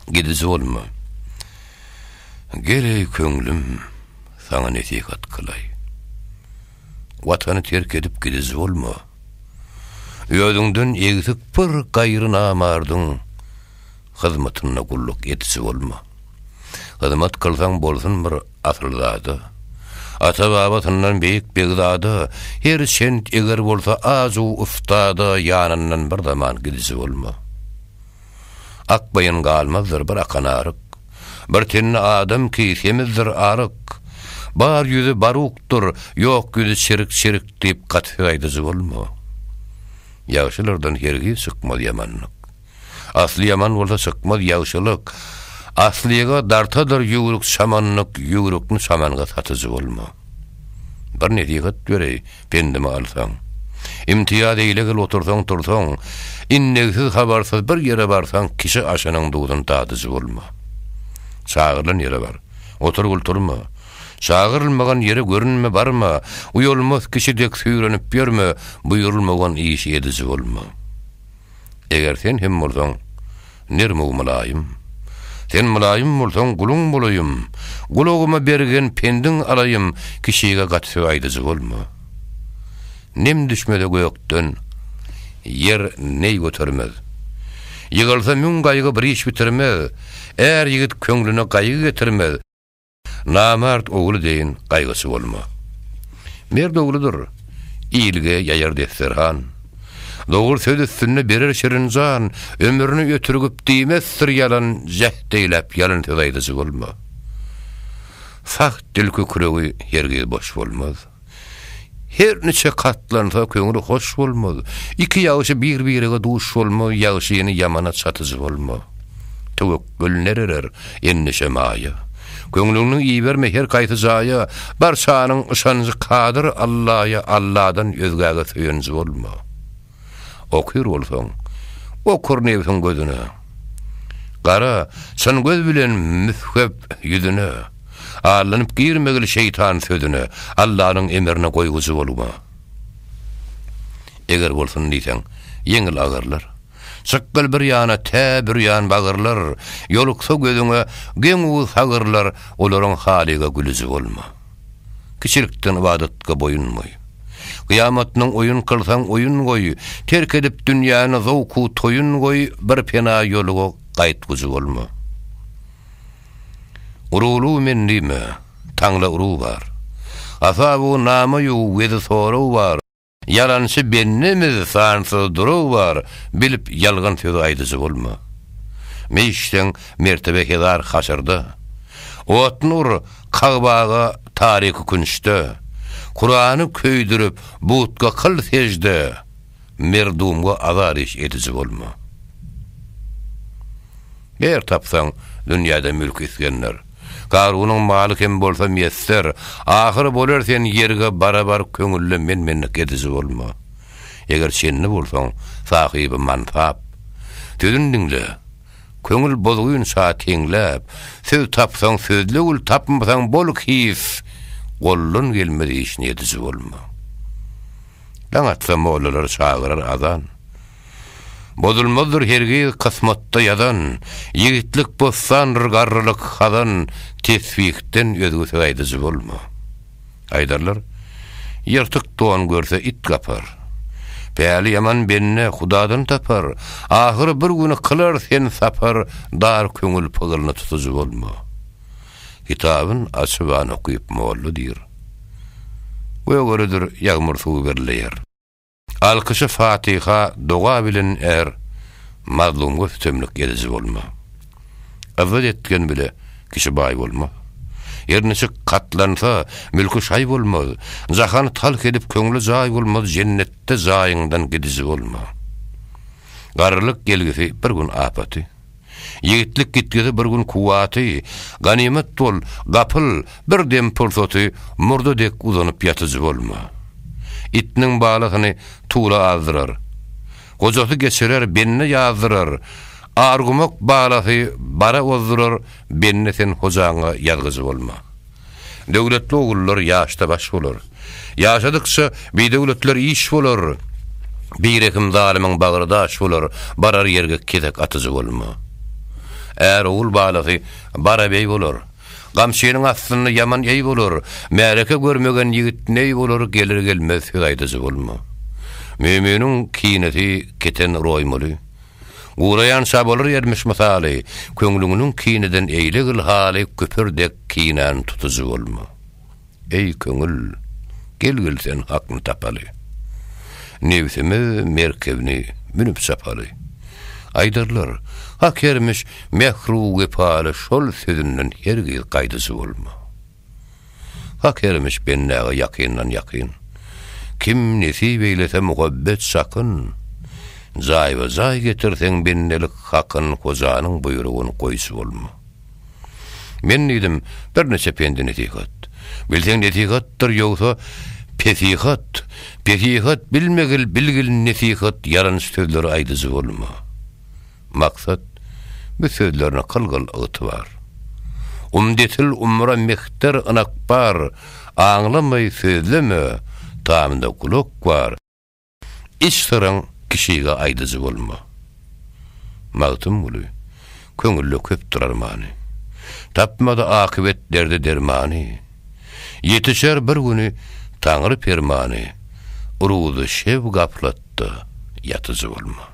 Gidiji bolma. Gel eý köňlüm, saňa nesihat kylaý. Watany terk edip gidiji bolma. Özüňden egsik bir gaýry namardyň hyzmatynda gulluk etiji bolma. Hyzmat kylsaň bolsun bir asylzada. Ata-babasyndan beýik begzada, her çent eger bolsa azu ustada ýanyndan bir zaman gidiji bolma. Akbaýyn galmazdyr bir akan aryk. Bir tenli adam ki, semizdir aryk. Bar ýüzi barukdyr, ýok ýüzi çirik-çirik diýip gaty aýdyjy bolma. Ýagşylardan hergiz çykmaz ýamanlyk. Asly ýaman bolsa çykmaz ýagşylyk. Aslyga dartadyr ýüwrük çamanlyk, ýüwrükni çamanga satyjy bolma. Bir nesihat bereý. Pendimi alsaň. Imtiýaz eýle gel otursaň tursaň, indegsiz habarsyz bir ýere barsaň kişi aşynyň duzuny dadyjy bolma. Çagyrylan ýere bar. Otur gul turma. Çagyrylmagan ýere görünme barma, uýalmaz kişi dek süýrenip ýörme, buýrulmagan işi ediji bolma. Eger sen hem bolsaň, nerm-u mylaýym. Sen mylaýym bolsaň, guluň bolaýym, Gulagyma bergen pendiň alaýym, Kişige gaty söz aýdyjy bolma. Nem düşmese gökden, ýer neý götermez. Ýygylsa müň gaýgy bir iş bitirmez, Är ýigit köňlüne gaýgy getirmez. Namart ogly deýin gaýgyçy bolma. Merd ogludyr, ilge ýaýar desterhan. Dogry söz üstünde berer şirin jan, ömrüni ötürgip diýmezdir ýalan, jäht eýläp ýalyn söz aýdyjy bolma. Sag dil kükregi hergiz boş bolmaz. Her niçe katlansa köňül hoş bolmaz. Iki ýagşy bir-birege duş bolmaz, ýagşyny ýamana çatyjy bolmaz. Töwekgül nereler, endişe maýa. Köňlüňni iberme her kaýsy jaýa, barçanyň yşanjy kadyr Allaýa, Alladan özgäge söýenji bolma. Okyr bolsaň, okur nebsiň gözüne. Gara, çyn göz bilen müsgep ýüzüne. Allanyp girmegil şeýtan sözüne, Allanyň emrine goýgujy bolma. Eger bolsun diýseň, ýeňil agyrlar. Çykgyl bir ýana, tä bürýan bagyrlar, Ýoluksa gözüňe geň-uly sagyrlar, Olaryň halyga gülüji bolma. Kiçilikden ybadatga boýun boý. Gyýamatdan oýun kylsaň oýun goý, Terk edip dünýäni zowk-u toýun goý, Bir pena ýoluga gaýtgujy bolma. Uruwluw men diýme, taňla uruw bar, Asabu namaýu wezi soraw bar, Ýalançy bendemiz sansyz duraw bar bilip ýalgan sözi aýdyjy bolma. Meýişseň mertebe hezar haşyrda. Otun ur Kagbaga taryky künçde. Kurany köýdürip butga kyl sejde merdumga azar iş ediji bolma. Ber tapsaň dünýäde mülk isgender. Garunyň maly kem bolsa miýesser, ahyr bolar sen ýerige barabar köňülle men-menlik ediji bolma. Eger çenli bolsaň, sahyby mansap. Sözün diňle. Köňül bozgyn şa teňläp, söz tapsaň sözle gül tapmasaň bol his, goldan gelmez işini ediji bolma. Daň atsa mollalar çagyrar azan. Bozulmazdyr hergiz kysmatda ýazan, Ýigitlik bossandyr garrylyk hazan, Tesbihden özgesi aýdyjy bolma. Aýdarlar, Ýyrtyk don görse it gapar. Päli ýaman bende Hudadan tapar, Ahyry bir gün kylar sen sapar, Dar köňül pygylyny tutyjy bolma. Kitabyn açyp an okyp molla diýr, Gögeridir ýagmyr suwy birleýär. Alkyşy fatiha doga bilen är mazlumga sütemlik ediji bolma. Yzzat etgen bile kişi baý bolma. Ýerniçik gatlansa mülki şaý bolmaz, jahany talh edip köňli jaý bolmaz jennetde jaýyňdan gidiji bolma. Garrylyk gelgisi bir gün apaty. Ýigitlik gitgide bir gün kuwwaty, ganymat bol, gapyl, bir dem pursaty murda dek uzanyp ýatyjy bolma. Itniň balasyny tula azdyrar. Gojasy geçirer, bende ýazdyrar, Argumak balasy bara ozdurar, bende sen hojaňa ýazgyjy bolma. Döwletli ogullar ýaşda baş bolar. Ýaşadykça, bidöwletler iş bolar. Birehim zalymyň bagry daş bolar, barar ýerge kesek atyjy bolma. Är-ogul balasy bara beý bolar. Gamçynyň astynda ýaman eý bolar, märeke görmegen ýigit neý bolar, gelir-gelmez söz aýdyjy bolma. Müminiň kinesi keten roýmaly. Guraýan şa bolar ýermiş mysaly, Köňlüňniň kineden eýle gyl haly Küpür dek kinan tutujy bolma. Eý, köňül, gel-gel sen hakny tapaly. Nebsimiz merkebini münüp çapaly. Aýdarlar, Hak ýermiş mähru wepaly Şol sözünden hergiz gaýdyjy bolma. Hak ýermiş bendäge ýakyndan ýakyn. Kim nesip eýlese muhabbet sakyn. Jaýba-jaý getirseň bendelik hakyn Hojanyň buýrugyn goýşy bolma. Men diýdim birniçe pendi-nesihat. Bilseň nesihatdyr ýogsa pesihat. Pesihat bilmegil bilgil nesihat ýalan sözleri aýdyjy bolma. Maksat, bu sözler nykl gyl ygtybar. Umdetil umra mehter ynak bar, Aňlamaý sözleme, tamynda gulak bar, Iç syryň kişige aýdyjy bolma. Magtymguly, köňülde köpdür armany, Tapmady akybet derde dermany, Ýetişer bir güni Taňry permany, Ruzy şew gaplat, Ýatda ýatyjy bolma.